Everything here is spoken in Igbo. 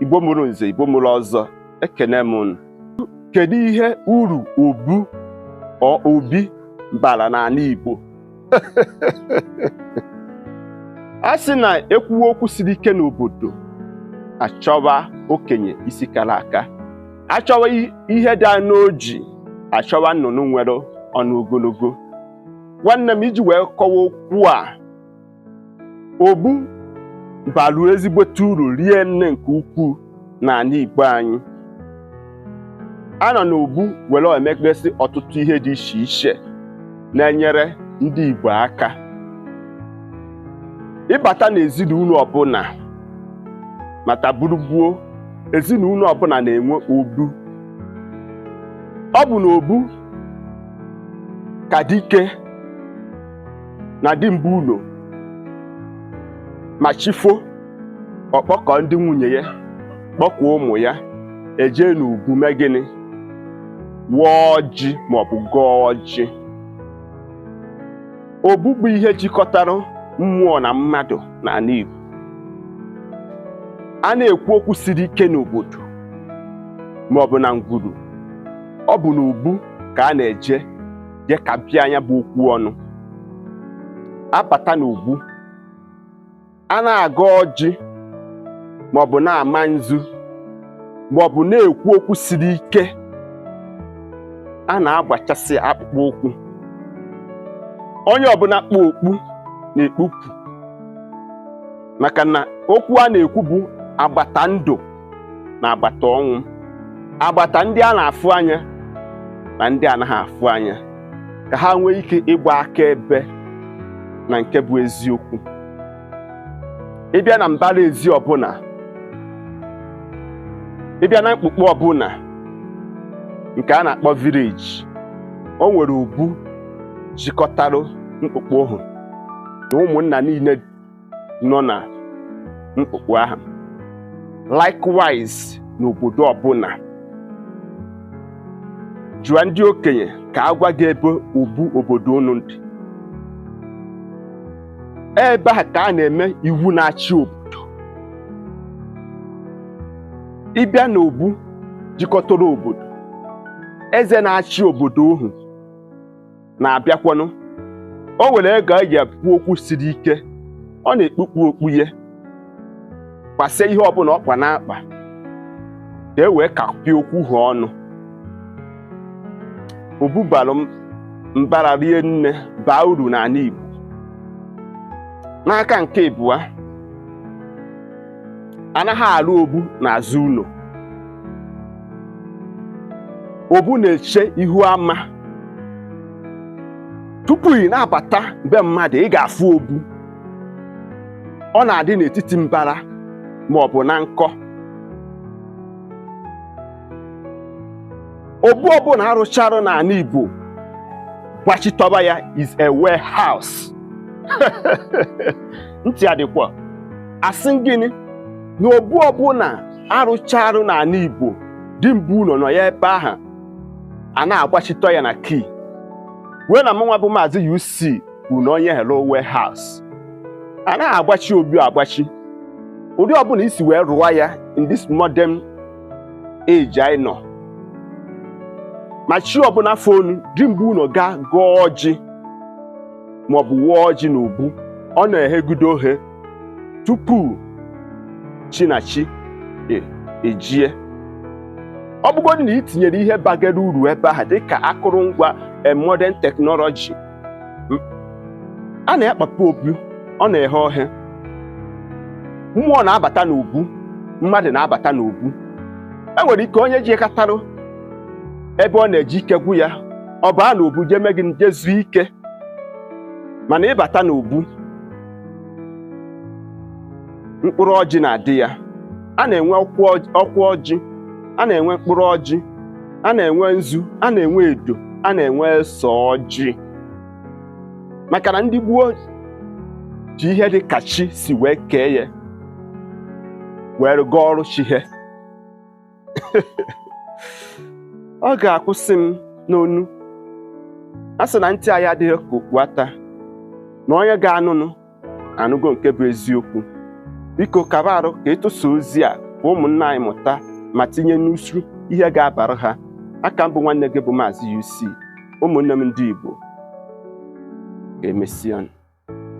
igbo mụrụ nze igbo mụrụ ọzọ ekene m unu kedu ihe uru obu obi bara n'ala igbo a sị na ekwuwe okwu siri ike n'obodo achọwa okenye isi kara aka achọwa ihe dị n'oji achọwa nnụnụ nwere ọnụ ogologo nwanne m iji wee kọwa okwu a obu balụ ezigbote uru rie nne nke ukwuu n'ala Igbo anyị a nọ n'obu were emekpesị ọtụtụ ihe dị iche iche na-enyere ndị Igbo aka ị bata n'ezinụlọ ọbụla mata gburugburu ezinụlọ ọbụla na-enwe obu ọ bụ n'obu ka dike na di mbụ ụlọ ma chi fo ọ kpọkọ ndị nwunye ya kpọkwa ụmụ ya e jee n'obu mee gịnị waa ọjị maọbụ gọọ ọjị obu bụ ihe jikọtara mmụọ na mmadụ n'ala Igbo a na-ekwu okwu siri ike n'obodo maọbụ na ngwuru ọ bụ n'obu ka a na-eje je kapịa nya bụ okwu ọnụ a bata n'obu a na-agọ ọjị maọbụ na-ama nzu maọbụ na-ekwu okwu siri ike a na-agbachasị akpụkpọ ụkwụ onye ọbụla kpu okpu na-ekpupụ maka na okwu a na-ekwu bụ agbata ndụ na agbata ọnwụ agbata ndị a na-afụ anya na ndị anaghị afụ anya ka ha nwee ike ịgba akaebe na nke bụ eziokwu ị bịa na mbara ezi ọbụla ị bịa na mkpukpu ọbụla nke a na-akpọ village o nwere obu jikọtara mkpukpu ohu na ụmụnna niile nọ na mkpukpu ahụ likewise n'obodo ọbụla jụọ ndị okenye ka a gwa gị ebe obu obodo unu dị ebe ahụ ka a na-eme iwu na-achị obodo ị bịa n'obu jikọtara obodo eze na-achị obodo ohu na-abịakwanụ o nwere ego a ji ekwu okwu siri ike ọ na-ekpukpu okpu ya kpasịa ihe ọbụla ọ kpa n'akpa ka e wee kapịa okwu ha ọnụ obu balụ mbara rie nne baa uru n'ala Igbo n'aka nke ịbụa anaghị alụ obu n'azụ ụlọ obu na-eche ihu ama tupu ị na-abata be mmadụ ị ga-afụ obu ọ na-adị n'etiti mbara ma ọ bụ na nkọ obu ọbụla a rụcharụ n'ala Igbo gbachitọba ya is a warehouse ntị adịkwa asị m gịnị na obu ọbụla a rụcharụ n'ala Igbo di bu ụlọ nọ ya ebe ahụ a na-agbachitọ ya na key wee na mụnwa bụ maazị UC kwuru na onye ahụ lụrụ warehouse a naghị agbachi obi agbachi ụdị ọbụla i si wee rụwa ya in this modern age anyị nọ ma chi ọbụla fonụ di bu ụnọ gaa gọọ ọjị maọbụ wụọ ọjị n'obu ọ na-ehegudo ohe tupu chi na chi e, ejie ọ bụgodị na ị tinyere ihe bagara uru ebe ahụ dịka akụrụngwa e, modern technology a na-akpapụ obu ọ na-eghe ohe mmụọ na-abata n'obu mmadụ na-abata n'obu e nwere ike onye jekatarụ ebe ọ na-eje ike gwụ ya ọ baa n'obu jee mee gịnị jee zuo ike mana ị bata n'obu mkpụrụ ọjị na-adị ya a na-enwe ọkwa ọjị a na-enwe mkpụrụ ọjị a na-enwe nzu a na-enwe edo a na-enwe ose ọjị maka na ndị gboo ji ihe dị ka chi si wee kee ya were gọọrụ chi ha ọ ga-akwụsị m n'ọnụ a sị na ntị anyị adịghị ka okpu ata na onye ga-anụnụ anụgo nke bụ eziokwu biko kaba arụ ka ị tụsa ozi a ka ụmụnna anyị mụta ma tinye n'usoro ihe ga-abara ha aka m bụ nwanne gị bụ maazị UC ụmụnne m ndị Igbo ka emesịa